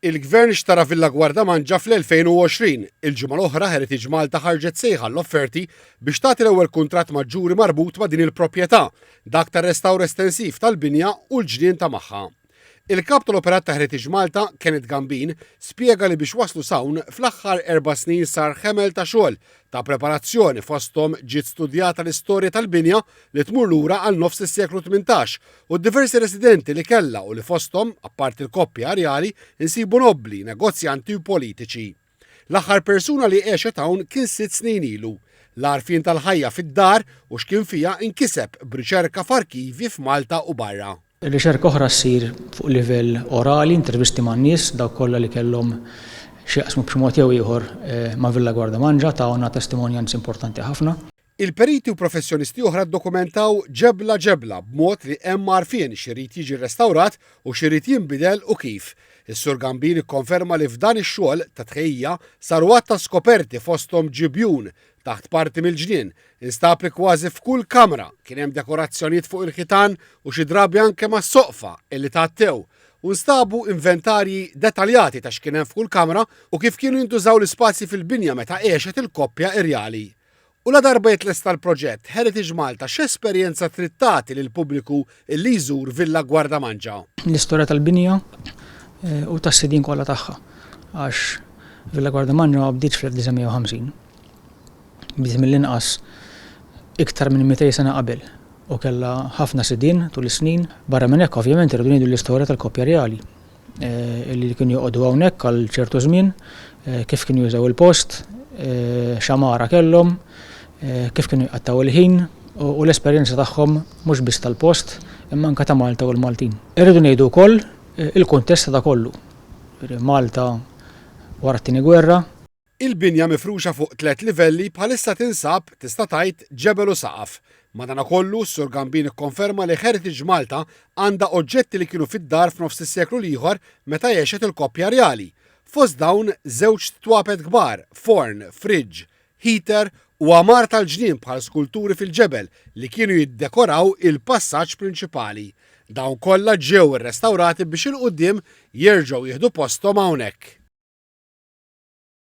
Il-Gvern xtara Villa Guardamangia fl-2020. Il-ġimgħa l-oħra Heritage Malta ħarġet sejħa għall-offerti biex tagħti l-ewwel kuntratt ma' ġuri marbut ma' din il-proprjetà, dak tar-restawr estensiv tal-binja u l-ġnien ta' magħha. Il-Kap tal-Operat ta' Heritage Malta, Kenneth Gambin, spjega li biex waslu s'hawn, fl-aħħar erba' snin sar ħemel ta' xogħol ta' preparazzjoni fosthom ġiet studjata l-istorja tal-binja li tmur lura għal nofs is-seklu tmintax u d-diversi residenti li kellha u li fosthom, apparti l-koppja irjali, insibu nobbli, negozjanti u politiċi. L-aħħar persuna li għexet hawn kien sitt snin ilu. L-għarfien tal-ħajja fid-dar u x'kien fiha nkiseb b'riċerka f'arkivji f'Malta u barra. Riċerka oħra ssir fuq livell orali, intervisti man-nies, dawk kollha li kellhom x'jaqsmu b'xi mod jew ieħor ma' Villa Guardamangia tawna testimonjanzi importanti ħafna. Il-periti u professjonisti oħra ddokumentaw ġebla ġebla b'mod li hemm għarfien x'irid jiġi rrestawrat u x'irid jinbidel u kif. Is-Sur Gambin ikkonferma li f'dan ix-xogħol ta' tħejjija saru għadd ta' skoperti fosthom ġibjun taħt parti mill-ġnien, instab li kważi f'kull kamra kien hemm dekorazzjonijiet fuq il-ħitan u xi drabi anke mas-soqfa illi tgħattew u nstabu inventarji detaljati ta' x'kien hemm f'kull kamra u kif kienu jintużaw l-ispazji fil-binja meta għexet il-koppja irjali. U ladarba jitlesta l-proġett, Heritage Malta x'esperjenza trid tagħti lill-pubbliku li jżur Villa Gwardamanġa? L-istorja tal-binja u tas-sidien kollha tagħha għax Villa Gwardamanġa ma bdietx fl-1950. Bdiet mill-inqas iktar minn 200 sena qabel u kellha ħafna sidien tul is-snin. Barra minn hekk, ovvjament irridu ngħidu l-istorja tal-koppja rjali li kienu joqogħdu hawnhekk għal ċertu żmien, kif kienu jużaw il-post, x'amara kellhom, kif kienu jqattgħu l-ħin u l-esperjenza tagħhom mhux biss tal-post imma anke ta' Malta u l-Maltin. Irridu ngħidu wkoll il-kuntest ta' da kollu, Malta wara t-Tieni Gwerra, Il-binja mifruxa fuq tliet livelli bħalissa tinsab, tista' tgħid, ġebel u saqaf. Madanakollu, s-Sur Gambin ikkonferma li Heritage Malta għandha oġġetti li kienu fid-dar f'nofs is-seklu l-ieħor meta għexet il-koppja rjali. Fost dawn, żewġ twapet kbar, forn, fridge, heater u għamar tal-ġnien bħal skulturi fil-ġebel li kienu jiddekoraw il-passaġġ prinċipali. Dawn kollha ġew irrestawrati biex 'il quddiem jerġgħu jieħdu posthom hawnhekk.